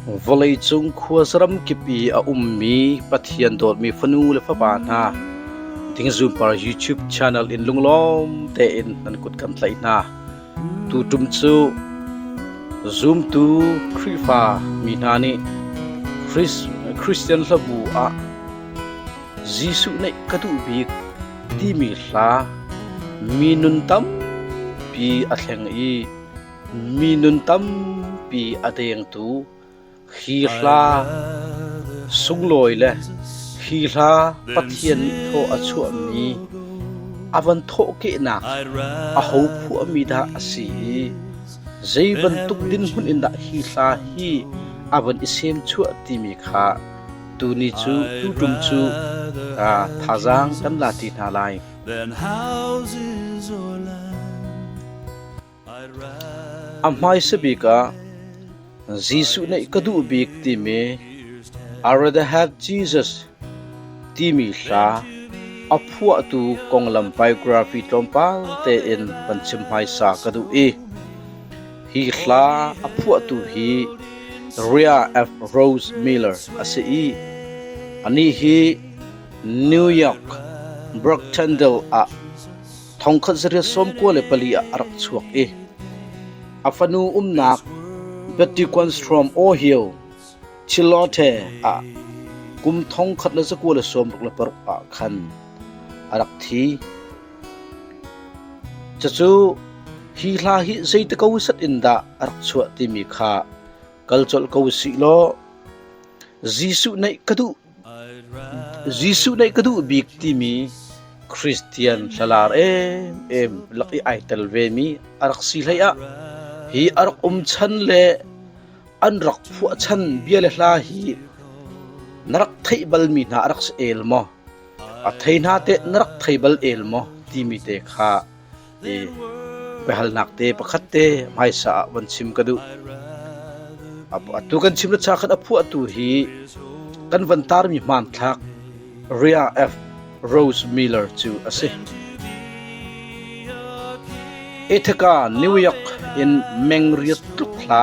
Vawleicung khuaza ramkip i a ummi Pathian dawtmi fanu le fapa hna dingzupar YouTube channel in lunglawm tein nan kut kan tlaih hna. Tutum cu zumtu Khrihfa mi hna nih Christian Hlabu ah Jesuh neih ka duh bik timi hla mi nun tampi a thleng i Mi nun tampi a dengtu hi hla, sunglawi le hi hla Pathian nih thaw a chuahmi a van thawhkehnak a ho phuahmi dah a si i zei bantuk dinhmun in dah hi hla hi a van i semchuah timi kha tuni cu tutum cu thazaang kan la ti hna lai. A hmaisa bik ah Jesuh nih ka duh bik timi I rather have Jesus timi hla a phuahtu konglam biography tlawmpal tein van chim hmaisa ka duh i hi hla a phuahtu hi Ria F. Rose Miller a si i anih hi New York Brooktyndale ah Thongkhat zariat sawmkua le pali ah a rak chuak i a fanu umnak Bettiquanstrom Ohio Chilote ah kum thongkhat le zakua le sawmruk le paruk ah khan a rak thi. Cucu hi hla hi zeite ko sat in dah a rak chuah timi kha kal colh ko si law Jesuh neih ka duh Jesuh nih ka duh bik timi Christian thlalar emem lak i ai tel vemi a rak si hleiah hi a rak um chan le an rak phuah chan bia le hla hi na rak theih balmi hna a rak si el maw? A thei hna teh na rak thei bal el maw? timi te kha Biahalnak te pakhat te hmaisa ah von chim ka duh. Atu kan chim le cha khat a phuah tu hi kan von tarmi hmanthlak Ria F. Rose Miller cu a si. Ithaca, New York in meng riat tluk hla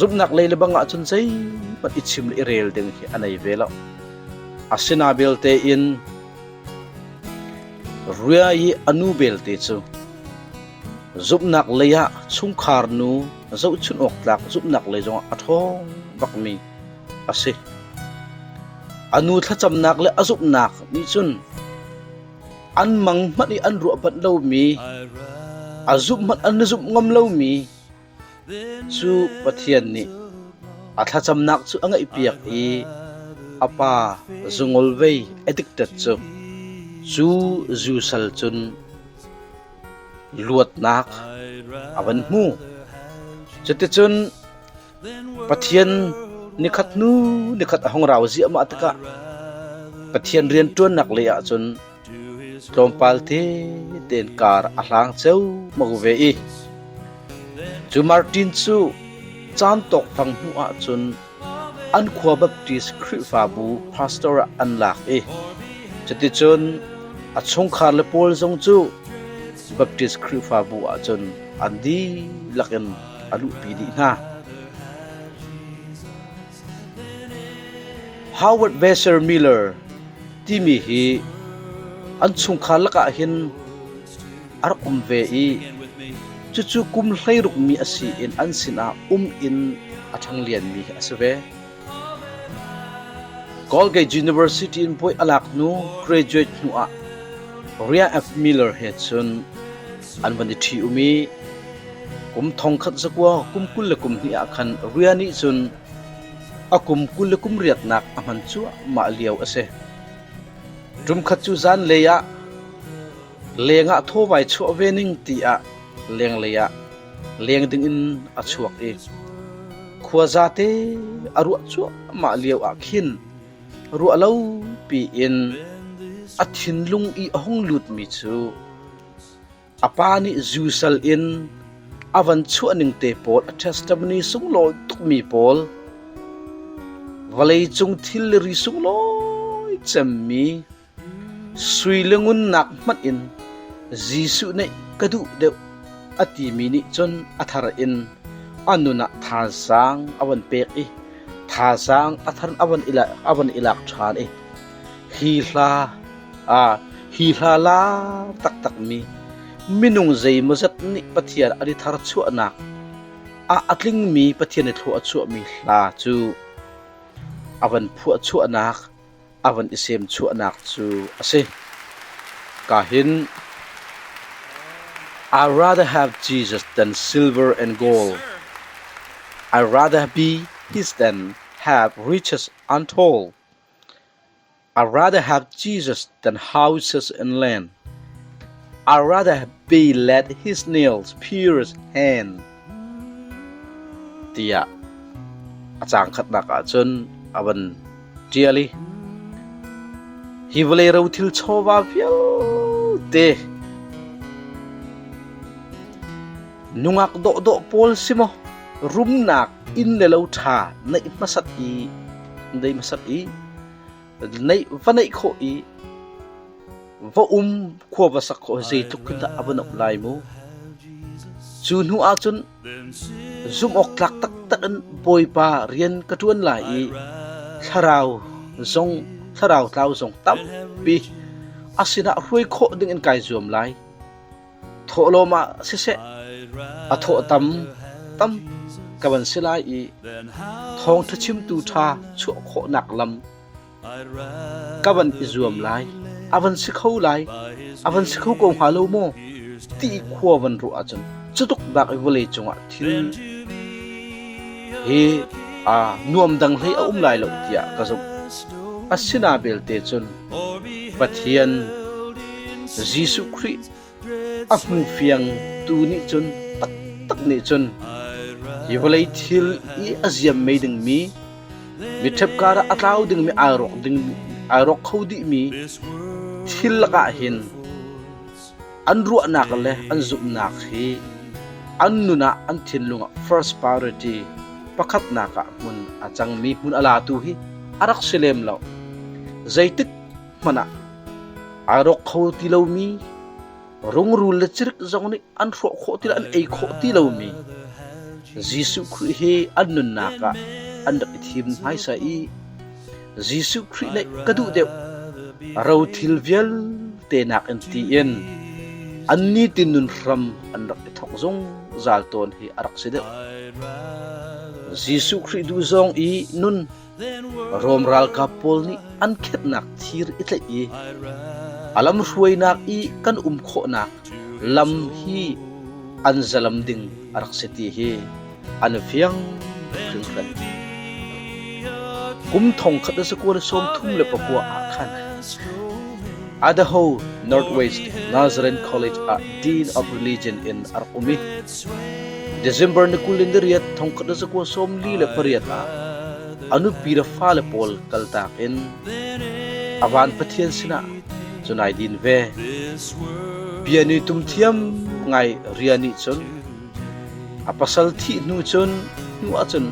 Zumhnak lei le bang ahcun zeihmanh i chim le i rel ding hi a nei ve lo. Asina belte in Ria i a nu belte cu zumhnak lei ah chungkhar nu zohchunh awk tlak zumhnak lei zongah a ṭhawng bakmi a si. A nu thlacamnak le a zumhnak nih cun an mang hmanh i an ruah banh lomi, a zumh hmanh an zumh ngam lomi, Cu Pathian nih a thlacamnak cu a ngaihpiak i a Pa zungolvei adikted cu cu zu sal cun luatnak a van hmu. Cuticun Pathian nikhat hnu nikhat a hung rau ziahmah tikah Pathian rianṭuannak lei ah cun Tlawmpal te tein kar a hlang ciammang ve i cu Martin cu caan tawkfang hnuh ahcun an khua Baptist Khrihfabu pastor ah an lak i cuticun a chungkhar le pawl zong cu Baptist Khrihfabu ahcun an dihlak in a luhpi dih hna. Howard Besser Miller timi hi an chungkhar lakah hin a rak um ve i cucu kum hleirukmi a si in an sinah um in a ṭhanglianmi a si ve. Colgate University in puai a lak hnu graduate hnuah Riah F. Miller he cun An van i ṭhi-um i, kum thong khat zakua kum kul le kum hnih ah khan Ria nih cun a kum kul le kum riatnak a hman cuahmah lio a si. Ṭumkhat cu zanlei ah leng ah thawvai chuah ve ning tiah lenglei ah leng dingin a chuak i khuaza te a ruah cuahmah lio ah khin ruah lo piin a thinlung i a hung lutmi cu A pa nih zu sal in a van chuahning te pawl a testimony sunglawi tukmi pawl vawleicung thilri sunglawi cemmi sui le ngunnak hmanh in Jesuh nih ka duh deuh a timi nih cun a thar in a nun ah thazaang a van pek i thazaang a thar a van i lak, a van i lak ṭhan i hi hla Hi hla lar taktakmi minung zeimawzat nih Pathian an i tharchuahnak ah a tlingmi Pathian i thlua a chuahmi hla cu a van phuahchuahnak, a van i semchuahnak cu a si. Ka hin I rather have Jesus than silver and gold. I rather be his than have riches untold. I'd rather have Jesus than houses and land. I'd rather be let his nails pierce hand. Tiah a cang khatnak ahcun a van tial i hi vawlei ro thil chawva vialte nungak dawhdawh pawl si maw rumnak inn le lo ṭha neih hmasat i dei hmasat i va neih khawh i va um khua va sak khawh zeitluk in dah a van um lai mu. Cu hnu ah cun zumhawktlak taktak in Bawipa rian ka ṭuan lai i thlarau zong thlarau tlau zong tampi a sinah hruai khawh ding in kai zuam lai. Thawhlawm ah siseh, a thawhtam tam ka van si lai i thawngṭha chimtu ṭha chuah khawhnak lam ka van i zuam lai. A van si kho lai, a van si kho ko hnga lo maw ti i khua van ruah ahcun cutuk bak i vawlei cungah thil hi aa nuam dang hlei a um lai lo tiah ka zumh. A si na belte cun Pathian Jesuh Khrih a hmufiangtu nih cun taktak nih cun hi vawlei thil i a ziammei dingmi mi ṭhepkar ah a tlau dingmi ai rawk ding ai rawk kho dihmi thil lakah hin An ruahnak le an zumhnak hi an nun ah an thinlung ah first priority pakhatnak ah hmun a cangmi hmun a latu hi a rak si lem lo. Zeitik hmanh ah aa rawk kho ti lomi, rungrul le cirik zong nih an hrawh khawh ti lo, an ei khawh ti lomi Jesuh Khrih hi an nunnak ah an rak i thim hmaisa i Jesuh Khrih le ka duh deuh rothil vialte nakin tiin an nitin nun hram an rak i thawk zungzal tawn hi a rak si deuh. Jesuh Khrih duh zong i nun Rom ralkap pawl nih an khetnak thir i tlaih i a lam hruainak i kan um khawhnak lam hi an zalam ding a rak si ti hi an i fiang hringhran. Kum thong khat a sakua sawm thum le pakua ah khan Idaho Northwest Nazarene College ah Dean of Religion in a rak um i December ni kul in ni riat thongkhat a sakua sawm li le pariat ah a nupi le fale pawl kaltak in a van Pathian sinah cun ai din ve. Bia ni tum thiam ngai rian nih cun A pasal thih hnu cun hnu ahcun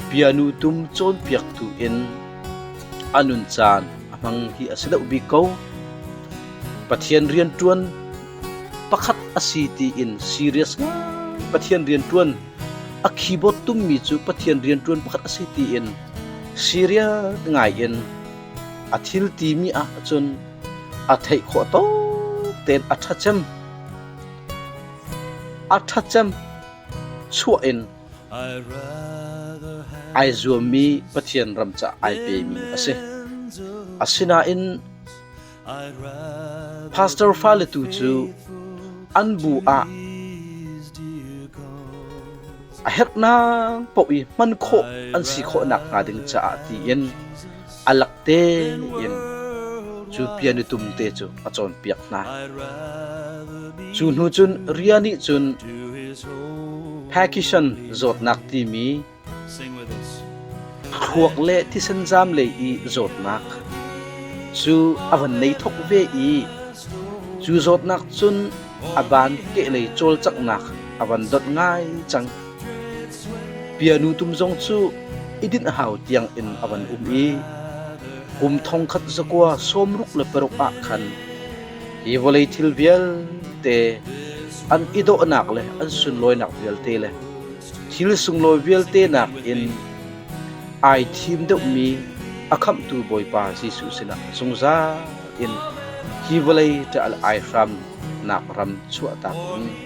bianu tum cawnpiaktu in a nun caan a hmang hi a si deuh bik ko. Pathian rianṭuan pakhat a si tiin serious ngai Pathian rianṭuan a keyboard tummi cu Pathian rianṭuan pakhat a si tiin serious ngai in a thil timi ahcun a theih khawh tok tein a ṭha cem. A ṭhatcem chuah in ai zuammi Pathian ram caah ai pemi a si. Asinain pastor fale tu cu an bu ah a herhnak paoh i hman khawh an si khawh nakhnga ding caah tiin a lak tein cu pia nitum te cu a cawnpiak hna. Cu hnu cun ria nih cun Pakishan zawtnak timi thluak le thisen zaam lei i zawtnak cu a van nei thok ve i cu zawtnak cun a ban keh lei cawlcanghnak a van dot ngai cang. Pianu tum zong cu i dinh a hau tiangin a van um i kum thongkhat zakua sawmruk le paruk ah khan hi vawlei thil vialte an i dawhnak le an sunlawinak vialte le thil sunglawi vialte nakin ai thim deuhmi a khamhtu Bawipa Jesuh sinah zungzal in hi vawlei ṭial ai hramnak ram chuahtak in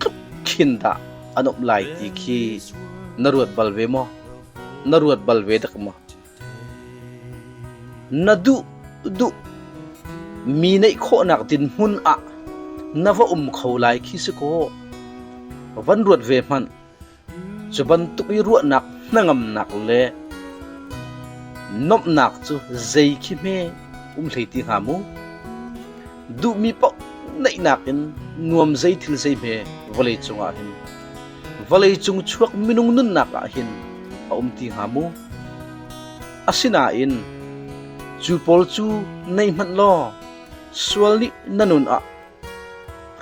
tluk khin dah an um lai ti khi na ruat bal ve maw? Na ruat bal ve dak maw? Na duh duh mi neih khawhnak dinhmun ah na va um kho lai khi si kaw van ruat ve hmanh Cu bantuk i ruahnak hnangamnak le nomhnak cu zei khi hme um hlei ti hnga mu? Duhmi paoh naihnak in nuam zei thil zei hme vawlei cungah hin, vawleicung chuak minung nunnak ah hin a um ti hnga mu? Asinain cu pawl cu nei hmanh law sual nih na nun ah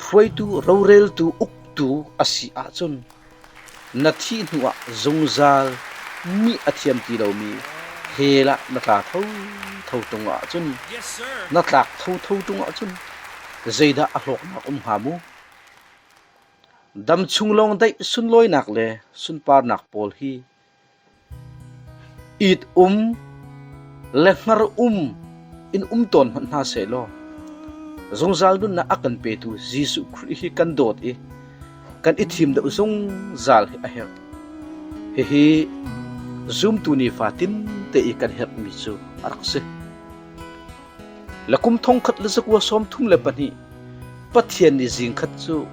hruaitu roreltu uk tu a si ahcun na thih hnu ah zungzal mi a thiam ti lomi hell ah na tla thotho ṭung ahcun na tlak thotho ṭung ahcun zeidah a hlawknak um hnga mu? Dam chung lawng daih sunlawinak le sunparnak pawl hi It um le hnar um in um tawn hmanh hna seh law, zungzal nunnak a kan petu Jesuh Khrih hi kan dawt i kan i thim deuh zungzal hi a herh. Hihi zumtu nifa tinte i kan herhmi cu a rak si. La kum thongkhat le zakua sawm thum le pahnih Pathian nih zingkhat cu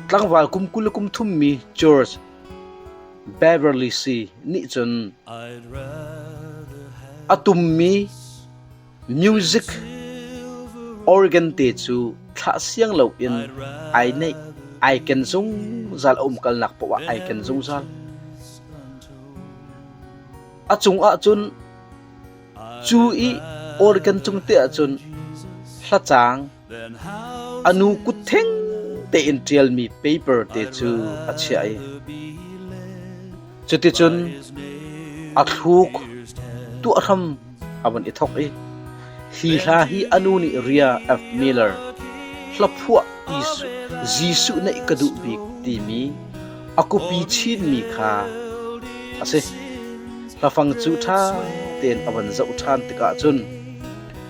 tlangval kum kul le kum thummi George Beverly Si nih cun a tummi music organ te cu thlah siang loin ai neih, ai ken zungzal, a umkalnak paoh ah ai ken zungzal. A cungah cun cu i organ cung te ahcun hlacaang A nu kut theng tein ṭialmi paper te cu a chiah i cuticun a thluk tuah hram a vun i thok i hi hla hi a nu nih ria F. Miller hlaphuah Jesuh neih ka duh bik timi a kupi chinmi kha a si. Hlafang cu ṭha tein a van zoh ṭhan tikah cun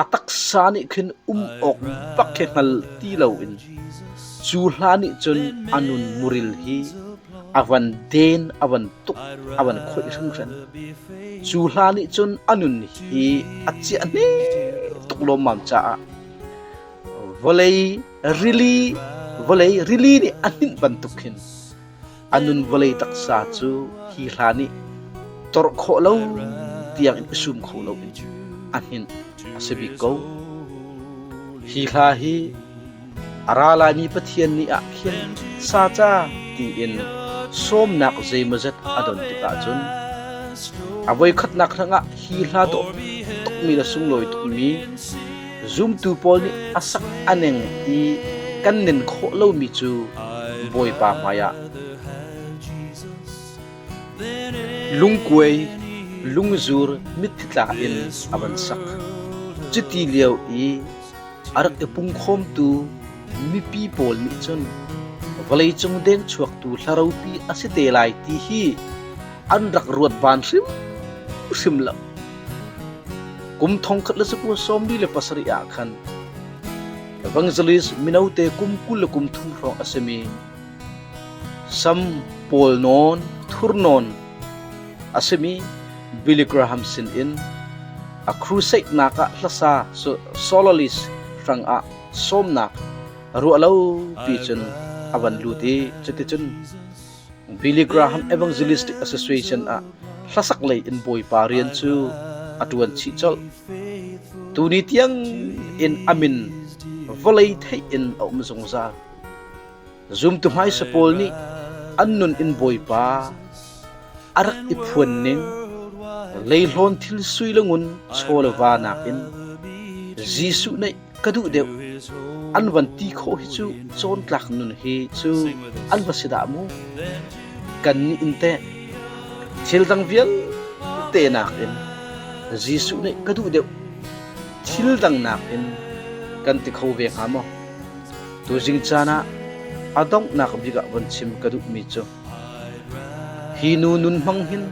a taksa nih khin um awk bak hi hngal ti loin cu hla nih cun a nun muril hi a van den, a van tuk, a van khoih hringhren. Cu hla nih cun a nun hi a ciah ne tuk lawmmam caah vawlei rili vawlei rili nih a hninh bantuk khin a nun vawlei taksa cu hi hla nih torh khawh lo tiangin i sum kho loin a hnin a si bik ko. Hi hla hi a ra laimi Pathian nih ah khin saca tiin sawmnak zeimawzet a don tikah cun a voikhatnak hrangah hi hla dawh tukmi le sunglawi tukmi Zumtu pawl nih a sak a ning i kan nin khawh lomi cu Bawipa hmaiah lungkuai, lungzur, mitthi tla in a van sak. Cuti lio i a rak i pungkhawmtu mipi pawl nih cun vawleicung denchuaktu hlaropi a si te lai ti hi an rak ruat van hrimhrim lo. Kum thongkhat le sakua sawmli le pasarih ah khan evangelist mino te kum kul le kum thum hrawng a simi sam pawl nawn thur nawn a simi Billy Graham sin in a crusade nak ah hlasa so soloist hrang ah sawmnak ruah lo pi cun a van lut i cuticun Billy Graham Evangelistic Association ah hlasak lei in Bawipa rian cu a ṭuan chih colh. Tuni tiang in a min vawlei theih in a um zungzal. Zumtu hmaisa pawl nih an nun in Bawipa a rak i phuan ning, leihlawn thil sui le ngun chaw le va nakin Jesuh nih ka duh deuh. An van ti khawh hi cu cawntlak nun hi cu an va si dah mu? Kan nih in teh thil dang vialte nakin Jesuh nih ka duh deuh thil dang nakin kan ti kho ve hnga maw? Tuzing caan ah a donghnak bik ah von chim ka duhmi cu hi nu nun hmang hin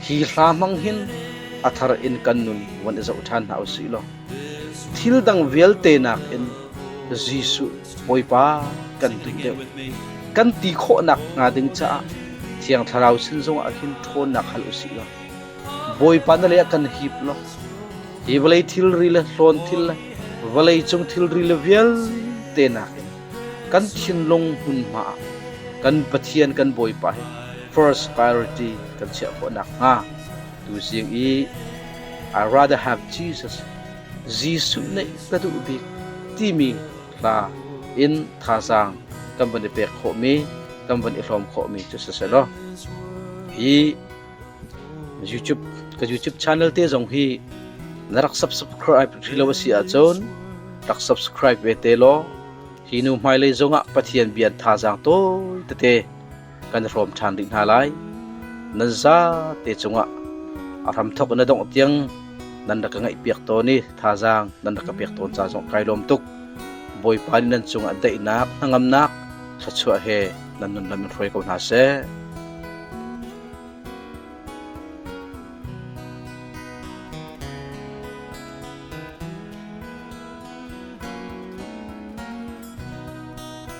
hi hla hmang hin a thar in kan nun von i zoh ṭhan hna u sih law Thil dang vialte nakin Jesuh Bawipa kan duh deuh, kan ti khawhnak hnga ding caah Thiang Thlarau sin zongah ah hin ṭhawnnak hal u sih law, Bawipa na leiah kan hip law, hi vawlei thilri le hlawn thil le vawleicung thilri le vialte nakin kan thinlung hmunhma ah kan Pathian kan Bawipa hi first priority kan chiah khawh nakhnga Tuzing i I rather have Jesus, Jesuh neih ka duh bik timi hla in thazaang kan van i pek khawhmi, kan van i hlawm khawhmi cu si selaw hi YouTube ka YouTube channel te zong hi na rak subscribe rilo asi ahcun rak subscribe ve te law hi nu hmailei zongah Pathian bian thazaang tawi tete kan hrawm ṭhan rih hna lai. Nan zate cungah a hramthok na dongh tiang nan rak ka ngaihpiak tawn i thazaang nan rak ka pek tawn ca zong kai lawm tuk. Bawipa nih nan cungah daihnak, hnangamnak, thluachuah he nan nunlam in hruai ko hna seh.